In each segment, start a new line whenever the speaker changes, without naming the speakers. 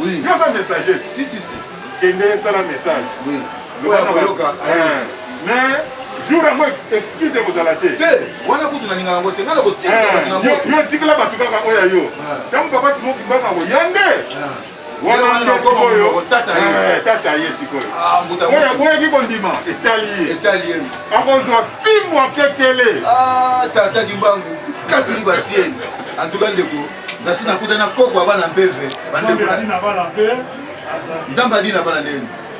Oui. Yo sa messager. Si si si. Kende sala message. Oui. Loba
na yoka. Eh.
Mais jour yango excuse ekozala te te wana kutu nalinga
yango te ngai nakotikela bato na moto yo tikela bato kaka
oyo ya yo ntango papa simo kimbanga koya nde wana wana okoma monoko tata ye eh, tata ye sikoyo ah, oyo aboyaki kondima etali ye etali ye akozwa fimbu akekele ah, tata kimbangu katuli basieni antuka ndeko nasi nakuta na koko abana mpeve bandeko nzambe adi na bana ndeni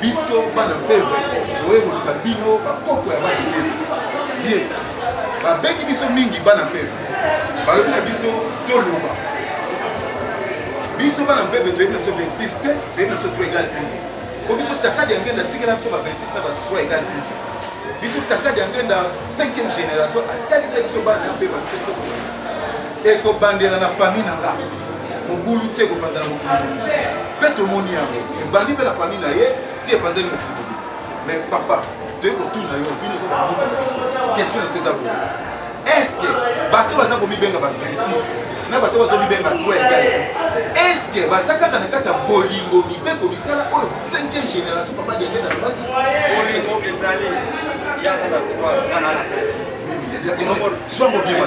biso bana mpeve oye koluka bino bakoko ya bana mpeve vie babengi biso mingi bana mpeve balobi na biso toloba biso bana mpeve toyebi na biso 26 te toyebi na biso 3 egal 1 te po biso tata diangenda atikela biso ba 26 na ba 3 egal 1 te biso tata diangenda 5e génération atalisa biso bana ya mpeve biso biso ekobandela na famille na nga mobulu ti ekopanzana mokili mpe tomoni yango ebandi mpe na famille na ye ti epanzani mokili me papa toyei kotuna yo bino eza babuka na biso question na biso eza boye estce bato baza komibenga ba 26 na bato bazo mibenga to egale estce baza kaka na kati ya bolingo mibeko misala oyo 5e génération papa diende na lobaki bolingo ezali yaza na 3 ana na 26 swango bima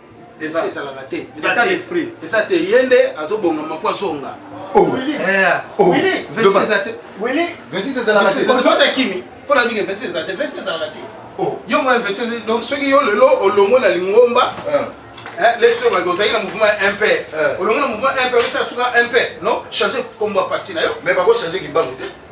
eza ezalaka te état d'esprit eza te ye nde azobongama mpo azonga vesi eza te vesi ezalaka te ozota kimi mpo na ndenge vesi eza te vesi ezalaka te yo mwa vesi donc soki yo lelo olongo na lingomba leso ebaki ozalaki na mouvement ya mp olongo na mouvement mp osala suka mp non change kombo ya parti na yo mais bakochange kimbangu te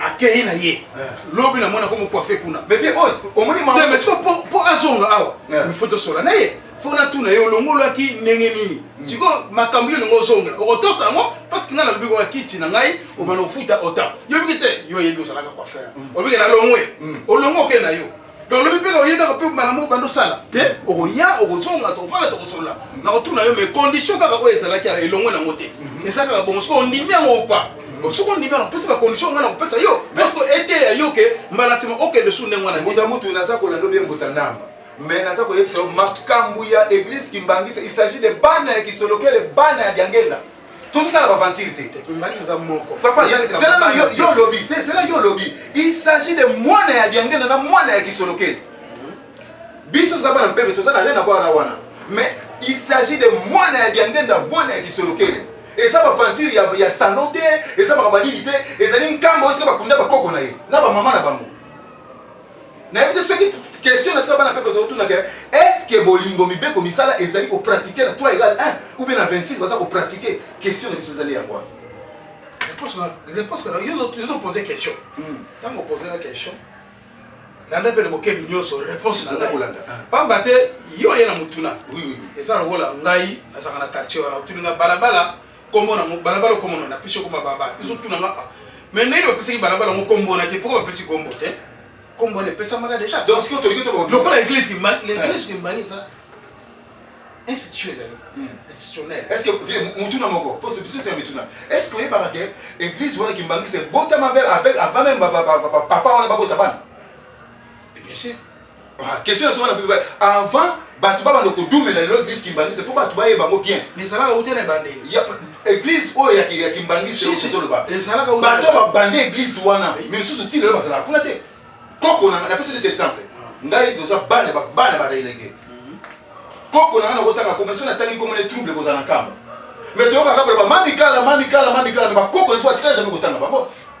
akeyi na ye eh. lobi na mwana komo coiffe kuna mais vie oyo oh, omoni ma mais siko po po azonga awa eh. il faut tosola na ye faut na tuna ye olongolaki ndenge nini hmm. siko makambo yo lingo ozongela okotosa yango parce que ngai nalobi kwa kiti na ngai obana ofuta ota yo biki te yo oyebi osalaka coiffer hmm. obiki na longwe hmm. olongo oke na yo Donc lobi pe oye kaka pe mbala moko bando sala te okoya okozonga tokofanda tokosolola nakotuna yo mais condition kaka oyo ezalaki elongo nango te mhm. eza kaka bongo soki ondimi yango opa mhm. soki ondimi yango opesi bacondition ngai nakopesa yo parceke eteya
yo
ke mbala nsima okende
su
ndenge wana
mbuta
mutu naza
kolanda
obe mbuta ndamba mais naza koyebisa yo makambo ya église kimbangisa il s'agit de bana ya kisolokele bana ya diangenda tozosala baventure te
papa zela na yo
yo olobi te zela yo olobi il s'agit de mwana ya diangenda na mwana ya kisolokeli biso toza bana mpeve toza na rien avoir na wana mais il s'agit de mwana ya diangenda mwana ya kisolokeli eza baventure ya, ya sano te eza makambo ya nini te ezali nkambo oyo soki bakunda bakoko na ye na bamama na bango nayebi te soki question na biso bana pepe totunaka est-ce que bolingo mibeko misala ezali kopratike na 3 egal 1 ou bien na 26 baza kopratike question na biso ezali yango yo
pose question ntango hmm. opose na question landa mpe bokebi nyonso réponse naza kolanda ah. pamba te yo oye na motuna eza lokola
ngai
nazalaka na quartier wana otuni nga balabala kombo na ngo balabala okomo na napesi yo kombo balabala ezo tuna nga ah. mais ndenge bapesaki balabala ngo kombo na te pourquoi bapesi kombo te kombo na epesamaka déjà donc sikoyo tolingi to lokola
église kimbangi
l'église kimbangi eza institution ezali institutionnel
est ce que mutuna moko po biso tena mituna est ce que oyebaka ke église wana kimbangi se botama avec avant même papa wana babota bana bien
sûr Ah, question nazo
wana mpe avant bato babanda kodumela lelo eglise kimbangiste mpo bato bayeba yango bien ezalaka uta na
ebandeli eglise
oyo ya kimbangiste ozoloba bato
babanda eglise
wana misusu ti lelo bazalaka kuna te koko na napesi nete exemple ah. ngai toza bana bana barelege mhm. koko na ngai nakotanga komona so natangi komona trouble ekozala na nkamba mais toyokaka koloba mamikala mamikala mamikala me bakoko ifo atikala jamai kotanga bango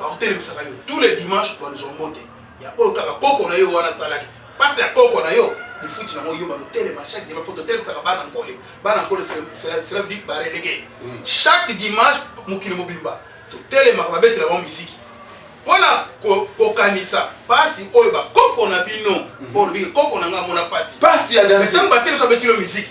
Bakotelemisaka yo tous les dimanches baluzwa mbote ya oyo kaka koko na yo wana asalaki pasi ya koko na yo lifuti nango yo balotelema chaque dimanche mpo totelemsaka bana nkole bana nkole cela veut dire barelege chaque dimanche mokili mobimba totelemaka babetela bango misiki mpo na kokanisa mpasi oyo bakoko na bino mpo olobi koko na ngai amona mpasi ntango batelemisa
babetilo misiki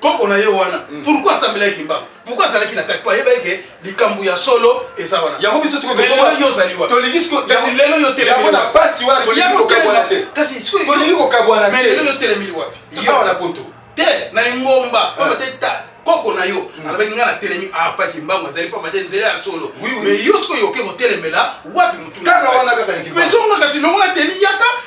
koko na ye wana mm. pourquoi asambelaki kimbangu pourquoi azalaki na kati po ayebaki ke likambo ya solo eza wana yango biso lelo yo
ozali
wapikasi lelo
yo telemina
pasi wana tolingi
kokabwana te kasi tolingi
kokabwana te
lelo yo telemili
wapi yawa na poto
te na lingomba
pamba te koko na yo mm. alobaki ngai natelemi apaki ah, mbangu azali pamba te nzela ya solo me yo soki oyoki kotelemela wapi motu kaka wana kaka
ezonga kasi longola
teli yaka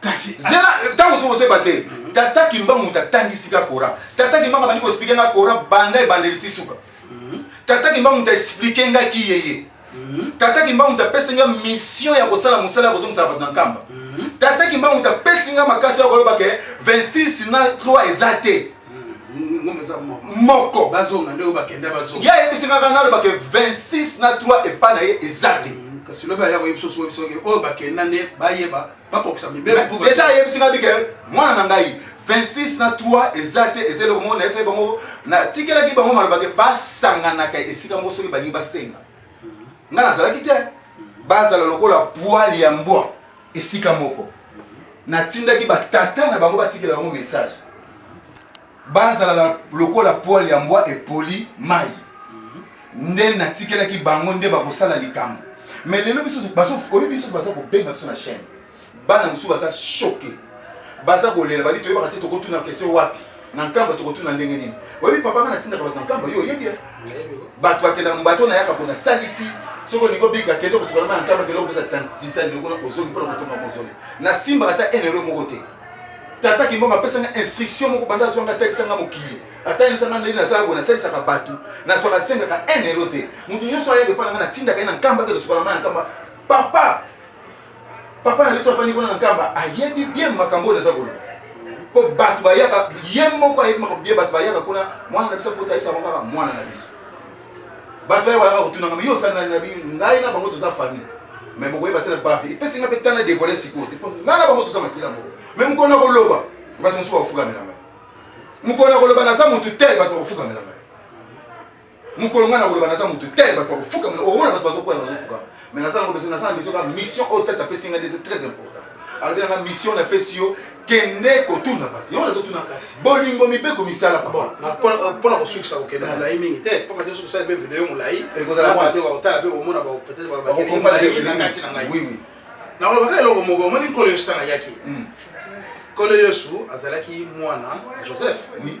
kasi zela ntango mosusu ozeba te mhm. tata kimba moto atangisi ka coran tata kimba nga bandi koexplike nga coran banda ebandeli ti suka mhm. tata kimba moto aexplike nga ki yeye mhm. tata kimba moto apesi nga mission ya kosala mosala ya kozongisaka bato na nkamba tata kimba moto apesi nga makasi ya koloba ke 26 na 3 eza te moko bazonga nde oyo bakenda
bazonga ye ayebisi kaka naloba ke
26 na 3 epai na ye eza te mm, kasi lobi aya koyebisa
oso oyebisa oke oyo bakenda nde bayeba bakokisa mibeldeja ayebisi ngai bike
mwana na ngai 26 na 3 eza te eza eloko moko nayebisaki bango natikelaki bango maloba ke basanganaka esika moko soki balingi basenga mm. ngai nazalaki te mm. bazala lokola pwale ya mbwa Esika moko, natindaki batata na bango batikela bango mesaje bazala lokola pwale ya mbwa epoli mai. Nde natikelaki bango nde bakosala likambo. Me lelo biso oyebi biso baza kobenga biso na chaine, bana mosusu baza choke, baza kolela babi toyebaka te tokotuna kestion wapi na nkamba tokotuna ndenge nini oyebi papa nga natindaka bato na nkamba yo oyebi eh? bato bakendaka mobato nayaka mpo nasalisi soki olingi obika kende kosokola mai na nkamba kende kopesa tinsani kuna ozongi mpona kotonga mozole nasimbaka ata enero moko te tata kimbongo apesanga instruction moko banda azwanga atekisanga mokili ata yosanga ndenge nazala boye nasalisaka bato nazwaka tisengaka enero te moto nyonso ayaka epai na ngai natindaka ye na nkamba te losokola mai na nkamba papa papa na biso afandi kuna na nkamba ayebi bien makambo oyo naza koloba mpo bato bayaka ye moko ayebi makambo bien bato bayaka kuna mwana na biso mpota ayebisa bango kaka mwana na biso bato bayaka bayaka kotunanga me yo osali nani na bino ngai na bango toza famille me bokoyeba te na bato epesi ngai mpe tana devoile sikoyo te mpo ngai na bango toza makila moko me mokolo na koloba bato mosusu bakofukamela ngai mokolo na koloba naza motu te bato bakofukamela ngai mokolo ngai nakoloba naza motu te bato bakofukama omona bato bazokwea bazofukama mais naza nango naza na besoin ka mission oyo tata apesi ngai ndeze très important alobi nanga mission napesi yo kende kotuna bato yango nazotuna kasi bolingo mibeko misala mpona
kosukisa kokende molai mingi te mpo kati soki osali mpe video yo molai ekozalate bakotala mpe komona peut-être na ngai nakolobaka eloko moko omoni nkolo yesu ntango ayaki nkolo yesu azalaki mwana ya joseph oui.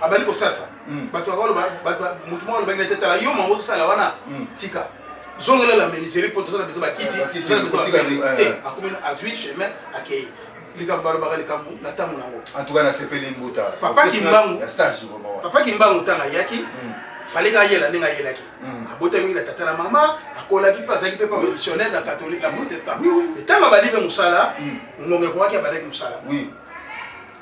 abandi kosasa mm. bato bakoloba motu moko alobaki na te tala yo mango osala wana mm. tika zongela la meniseri mpo toza na bezo bakiti toza na bezo te akomi azwi chemin akei likambo balobaka likambo na ntango na yango antuka nasepeli
mbuta papa kimbangu
papa kimbangu ntango ayaki mm. fale ka yela ndenge ayelaki mm. abotami na tata na mama akolaki mpe azalaki mpe pa missionnaire na catholique na protestant ntango abandi mpe mosala mm. ngonga ekokaki abandaki mosala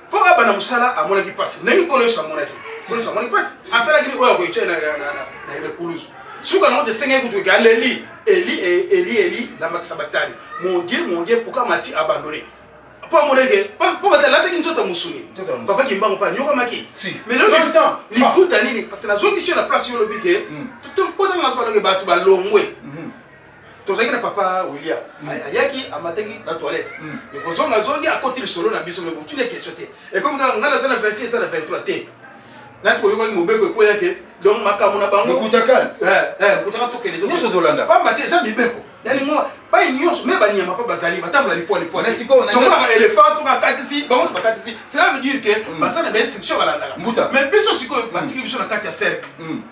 Mpo abanda mosala amonaki mpasi ndenge Nkolo Yesu amonaki. Nkolo Yesu amonaki mpasi, asalaki nini oyo akoyecai na ekulusu. Suka na moto esengeli kutu eke aleli eli e, eli eli lamakisa batani mon dieu mon dieu pourquoi mati abandone mpo amoneke mpo bato alataki nzoto ya mosuni papa kimbango mpe anyokamaki lifuta nini parce que nazongisi yo na place yo olobi ke mpo ntango nazo baloke bato balongwe tozalaki na papa william mm. ayaki amataki na toilette mm. mais kozonga zongi akoti lisolo na biso mais botuni question te ekomi kaka ngai naza na 26 eza na 23 te nati koyokaki mobeko ekweya te donc makambo na bango kutaka eh, eh, tokende nyonso tolanda pamba te
eza mibeko
yalingo bai nyonso me banyama mpe bazali batambola lipwa lipwatomonaka elefant soki akatisi bango nyonso bakatisi cela veut dire ke mm. baza na bainstruction balandaka mais biso sikoyo batiki biso na kati ya cercle mm.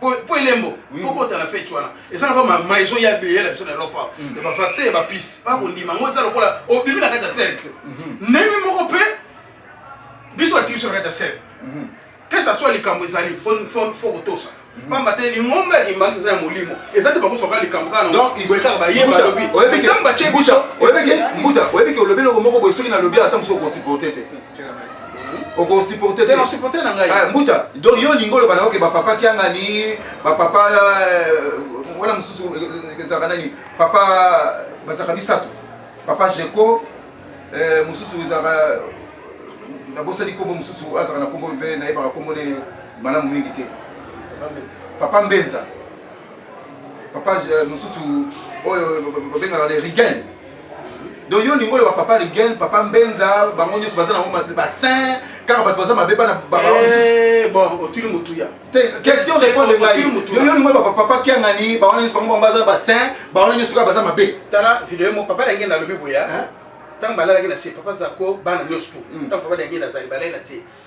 po po elembo Oui. po kota na fete wana eza na koma ma ezo ya beye na biso na Europe awa. ya ba vaccin ya ba piste ba kondima ngo eza lokola obimi na kati ya cercle ndenge moko pe biso batiki biso na kati ya cercle que ça soit likambo ezali fo fo fo kotosa pamba te lingomba ya kimbanza eza ya molimo eza te bakosoka likambo kaka na Donc, boye kaka baye Mbuta, balobi oyebi ke- ntango batye Mbuta, biso oyebi ke- Mbuta, oyebi
ke olobi eloko moko boye soki nalobi ata mosusu okosi kote te okosupporte te osupporte na ngai eh, mbuta
donc yo olingi
oloba na oke bapapa kiangani bapapa eh, wana mosusu eh, ezalaka nani papa bazalaka misato papa jeko mosusu ezalaka nabosani nkombo mosusu azalaka na nkombo mpe nayebaka nkombo ne malamu mingi te papa mbenza papa mosusu oyo babengaka le rigen donc yo olingi oloba papa rigel papa mbenza bango nyonso baza nango basin kaka bato baza mabe bana eh, bon
otuli motuya question répondre
ngai yo olingi oloba papa kiangani bawana nyonso bango bango baza basin bawana nyonso kaka baza mabe tala video mo papa
dange nalobi boya ntango balalaki na se papa zako bana nyonso tu ntango hmm. papa dange nazali balai na se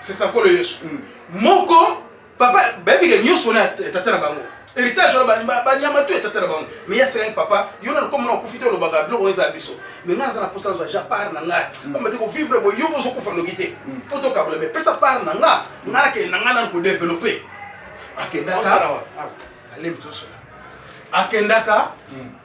C'est ça kolo Yesu. Mm. Moko papa bayebi ke nyonso wana ya tata na bango héritage wana banyama to ya tata na bango me ya selaki papa yo nano komona okufi te olobaka biloko oyo eza biso me ngai naza na mposa nazwa ja part na ngai mm. pamba te kovivre boye yo bozokufa noki te mm. mpo tokabola me pesa part na nga ngai nakende na ngai nano kodeveloppe akendaka alembi tosola akendaka mm.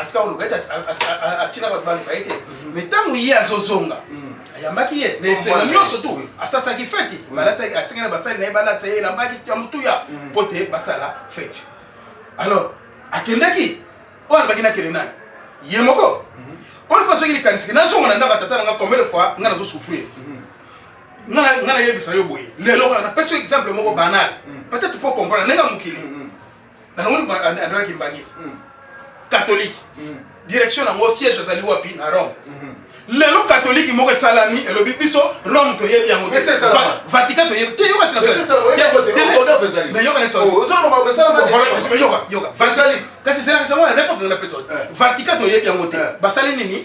atika koluka ete atika bato baluka ye te mhm. mais ntango ye azozonga mhm. ayambaki ye na esengo nyonso tu asasaki feti mhm. atikaki na basali na ye balatisa ye elamba ya motuya mpo te basala feti alors akendaki oyo alobaki nakende nani ye moko oyo mpe soki likanisiki nazonga na ndako ya tata na nga combien de fois nga nazosouffrir nga nayebisa yo boye lelo kaka napesi yo exemple moko banal peut-être po comprendre ndenge ya mokili na longo lipa andala kimbangisi mm. catholique mm. direction na yango siège azali wapi na rome mm-hmm. lelo katoliki moko esalami elobi biso rome toyebi yango vatican toyebi te yoka kasi esalaka sango na réponse ndenge napesa vatican toyebi yango te basali nini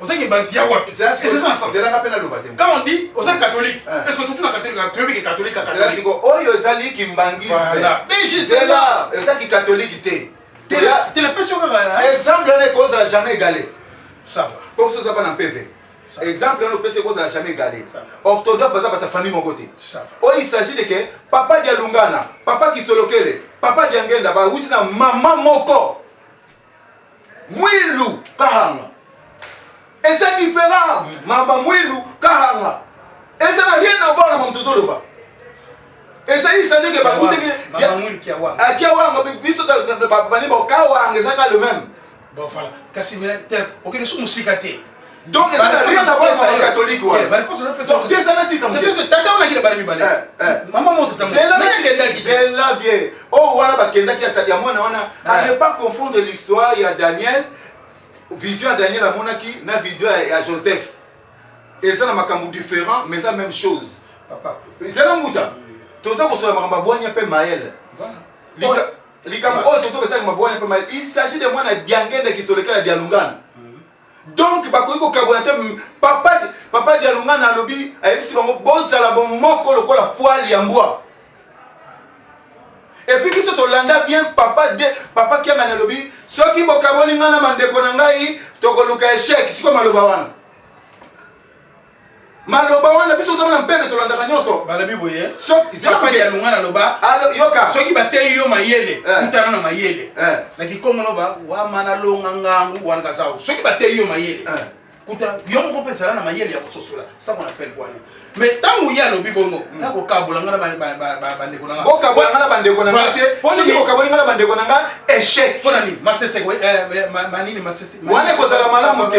oza kibandisi ya wapi ezelanga mpe naloba te quand
on dit oza catholique
eh. est ce que totuna catholique ah, toyebi ke catholique catholique oyo
ezali kimbangisezela eza kikatholike te telepesi okaka
exemple wana
ekozala jamais égale po
biso oza bana mpeve
exemple wana opesi ekozala jamais égale orthodoxe baza bata famille moko te oyo il s'agit de ke papa dia lungana papa kisolokele papa dia ngenda bawuti na mama moko mwilu kahanga eza différent mama mwilu kahanga eza na rien à voir na mamu tozoloba ezali sage ke bakutaki
akiawanga biso
bani bokawanga ezaka le même bon voilà
kasi okende so mosika te Donc
eza na rien à voir na ba catholique wana. Ba réponse na pesa. Donc
eza na sisa mzee. Sasa tata wana kile bana mibale. Eh, eh. Mama
moto tamu. Zela na kenda ki. Zela bien. Oh wana ba kenda ki atadi ya mwana wana. Eh. À ne pas confondre l'histoire ya Daniel vision ya Daniel amonaki na vision ya Joseph. Eza na makambo différent mais eza même chose. Papa. Zela
mbuta.
Toza kosola makambo bwanya pe Maël. Voilà. Lika oh. likambo oyo tozo pesa makambo bwanya pe Maël. Il s'agit de mwana diangende kisoleka ya dialungana. Donc bakoki kokabola te papa papa Dialungana alobi ayebisi bango bozala bomoko lokola poil ya mbwa. Et puis biso tolanda bien papa de papa Kiangani alobi soki bokaboli ngai na bandeko na ngai tokoluka echec siko maloba wana. maloba wana biso ozama na mpembe tolandaka nyonso balobi boye
sokapani ya lungana loba yoka soki bateyi
yo
mayele eh. kutana na mayele eh. na kikongo loba wama na longa ngangu wana kazao soki bateyi yo mayele eh. kuta yo moko mpe ezala na mayele ya kososola sango na pele bwana me ntango ye alobi bongo hmm. nakokabola nga na bandeko nanga bokabola nga na bandeko na
nga te soki bokaboli nga na bandeko na nga échec mpo na nini masese
manini masese wana ekozala malamu
te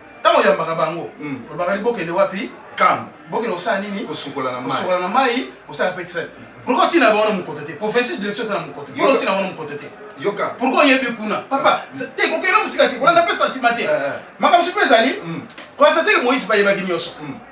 ntango
oyambaka bango mm. olobaka ni bokende wapi kamba bokende
kosala nini
kosukola na mai kosukola na
mai kosala
pe tisali pourquoi otina bango na mokoto te professeur direction eza na mokoto pourquoi otina bango na mokoto te yoka pourquoi
oyebi kuna
papa ah. te kokende mosika te kolanda pe sentiment te eh, eh. makambo soki mpe ezali mm. koasa teke moïse bayebaki nyonso mm.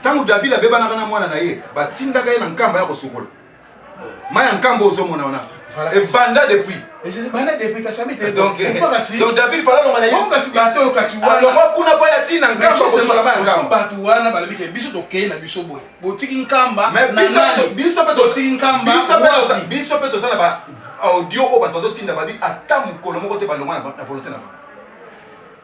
Ntango Davidi abebanaka na mwana na ye, batindaka ye na nkamba ya kosukola mai ya nkamba. Ozomona wana ebanda depuis
donc eh,
david falalonga na
yalongwa kuna mpo yati na
nkamba kosola mai ya nkamba bato wana balobi ke
biso tokei na biso boye botiki
nkamba
biso mpe
toza na ba audio oyo bato bazotinda babi ata mokolo moko te balongwa na volonté na bango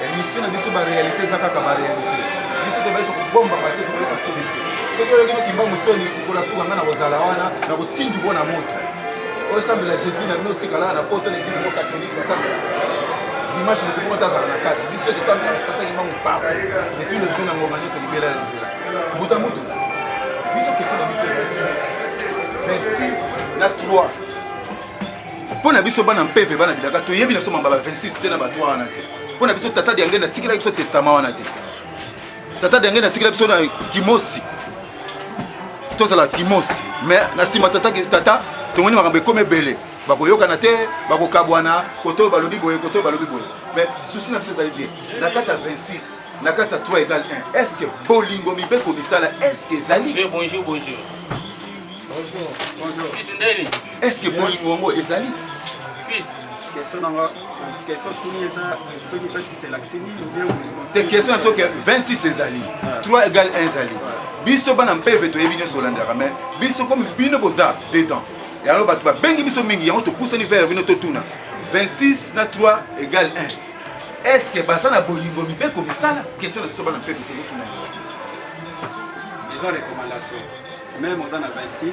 Emission na biso ba realite eza kaka ba realite. Biso tobali tokobomba bato tokoyoka soni te. Soki oyoki no kimbangu soni kola suka ngai na kozala wana na kotindi ko na moto. Osambela Jésus na bino tikala na poto na eglise moko catholique basambela. Dimanche moto moko tazala na kati. Biso tosambela tata kimbangu papa. Et tous les jours na ngoma nyonso libela na libela. Mbuta mbuta. Biso question na biso ezali 26 na 3 mpo na biso bana mpeve bana bilaka toyebi na so mambala 26 te na bato wana te mpo na biso tata diange natikelaki biso testama wana te tata diange natikela biso na kimosi tozala kimosi mais na nsima tata, tata tomoni makambo ekomi ebele bakoyokana te bakokabwana koto balobi boye koto balobi boye mais susi na biso ezali bien na kati ya 26 na kati ya 3 egal 1 est ce que bolingo mibeko misala est ce que ezali bonjour bonjour
bonjour
bonjour
est ce que bolingo
yango ezali
te question na
soki 26 ezali 3 égal 1 ezali biso bana mpeve toyebi nyonso olandaka mai biso komi bino boza dedans yango bato babengi biso mingi yango topusani vere bino totuna 26 na 3 égal 1 est ce que baza na bolingo mibeko misala question na biso bana mpe tokotuna
eza recommandation meme oza na 26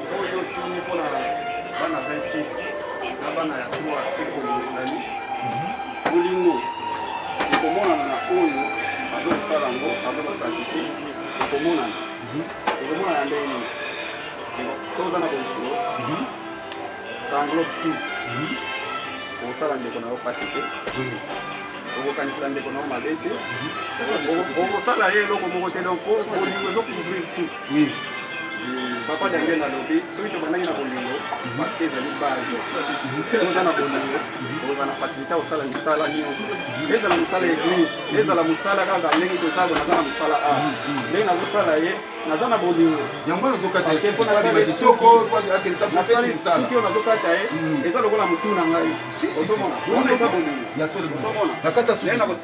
oyo otuni mpo na bana 26 na bana ya 3 sekolingani bolingo ekomonana na oyo azokosala yango azokopratike ekomonana ekomonana ndenge nini soki oza na bolingo sanglo tout okosala ndeko na yo mpasi te okokanisela ndeko na yo mabe te okosala ye eloko moko te donc bolingo ezocouvrir tout papa daniel alobi soki tobandaki na bolingo paske ezali base soki oza na bolingo oza na fasilité kosala misala nyonso ezala mosala ya eglise ezala mosala kaka ndenge toza boye naza na mosala a ndenge nazosala ye naza na bolingo yango nazokata ye
mpo nasala ye kitoko nasali
soki oyo nazokata ye eza lokola motu na ngai ozomona wana eza bolingo ozomona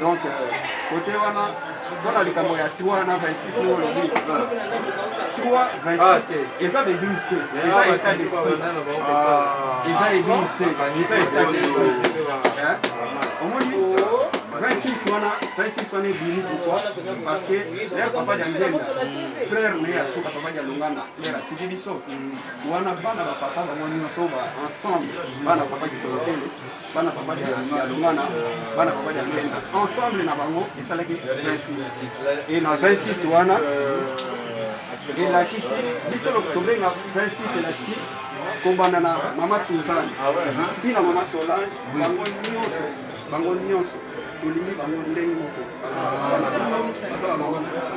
donc kote euh, wana mpona likambo ya 3 na 26 nde olobi 3 26 eza baeglise te eza état d'esprit eza église te eza état d'esprit omoni 26 wana 26 wana ebimi pourquoi parce que lere papa dia ngenda frère na ye ya suka papa dia longanda lere atiki biso wana bana bapapa bango nyonso ensemble bana papa kisolotele bana babali ya lungana bana babali ya lwenda ensemble na bango esalaki 26 e na 26 wana elakisi biso tobenga 26 elakisi kobanda na mama suzane ntina mama solange bango nyonso bango nyonso tolingi bango ndenge moko bazala mama na biso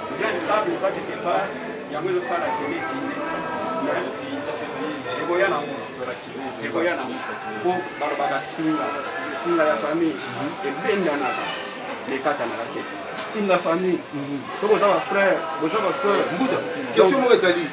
Grain de sable eza quelque part yango ezo sala ke neti neti mais ekoya na ngo ekoya na ngo po balobaka singa singa ya famille ebendanaka mekatanaka te singa famille soki oza ba frère boza ba sœur Mbuta, question
moko ezali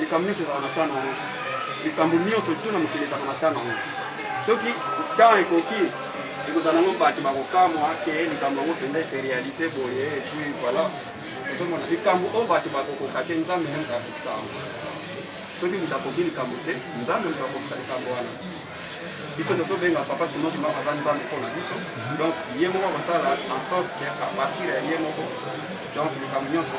Likambo nyonso ezalaka na temps na yango. Likambo nyonso tout na mokili ezalaka na temps na yango. Soki temps ekoki ekozala nango bato bakokamwa ke likambo yango mpenza ese realise boye epuis voilà ozomona likambo oyo bato bakokoka te nzambe nde moto akokisa yango soki moto akoki likambo te nzambe moto akokisa likambo wana biso tozobenga papa simo kima aza nzambe mpo na biso donc ye moko akosala en sorte ke apartir ya ye moko donc likambo nyonso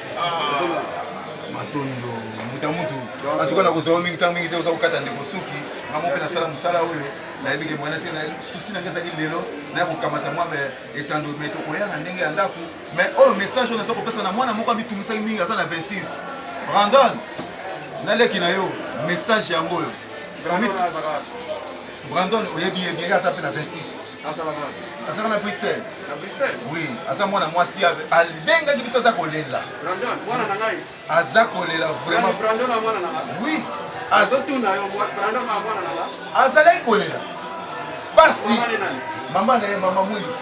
matondo
mbuta mutu antuka nakozwa yo mingi ntango mingi te oza kokata ndeko suki ngango mpe nasala mosala oyo nayebi ke mwana te susi nange ezali lelo naya kokamata mwa etando me tokoya na ndenge ya ndako me oyo message oyo naza kopesa na mwana moko amitumisaki mingi aza na 26 brandon naleki na yo message yango oyo brandon oyebi ye bien ye aza mpe na 26 azalaka na bruxelles oui aza mwana mwasi abengaki biso aza kolela aza kolela vraiment oui azalaki kolela pasi mama na ye mama mwindu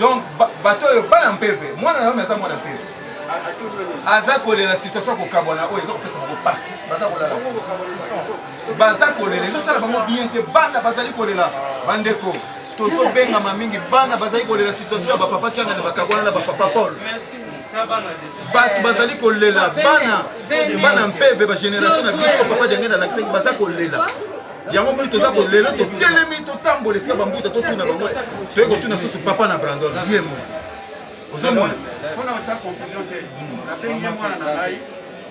donc bato oyo bana mpeve mwana na yo aza mwana mpeve aza kolela situation ya kokabwana oyo eza kopesa bango pasi baza kolala baza kolela ezosala bango bien te bana bazali kolela bandeko tozobengama mingi bana bazali kolela situation ya bapapa kianga na bakabwana na bapapa paul bato bazali kolela bana bana mpeve bagénération na biso papa denge na lakisaki baza kolela yango moni toza kolela totelemi totambola esika bambuta totuna bango toye kotuna susu papa na brandon ye moni ozomona mpona otya
confusion te nabengi ye mwana na ngai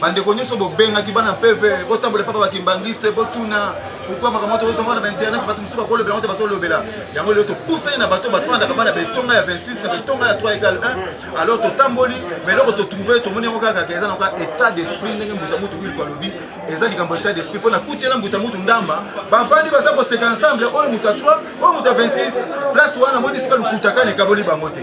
bandeko nyonso bobengaki bana peve botambola epai ba kimbanguiste botuna pourkui makambo yango tozozonga na bainternet bato mosusu bakolobela yango te bazolobela yango lelo topusani na bato bato bandaka bana betonga ya 26 na betonga ya 3 egal 1 alors totamboli ma eloko totrouve tomoni yango kaka eza na kaka état d'esprit ndenge mbuta mutu wilko alobi eza likambo état d'esprit mpo nakuti ena mbuta mutu ndamba bavandi baza koseka ensemble oyo moto ya 3 oyo moto ya 26 place wana namoni sika lokutakana ekaboli bango te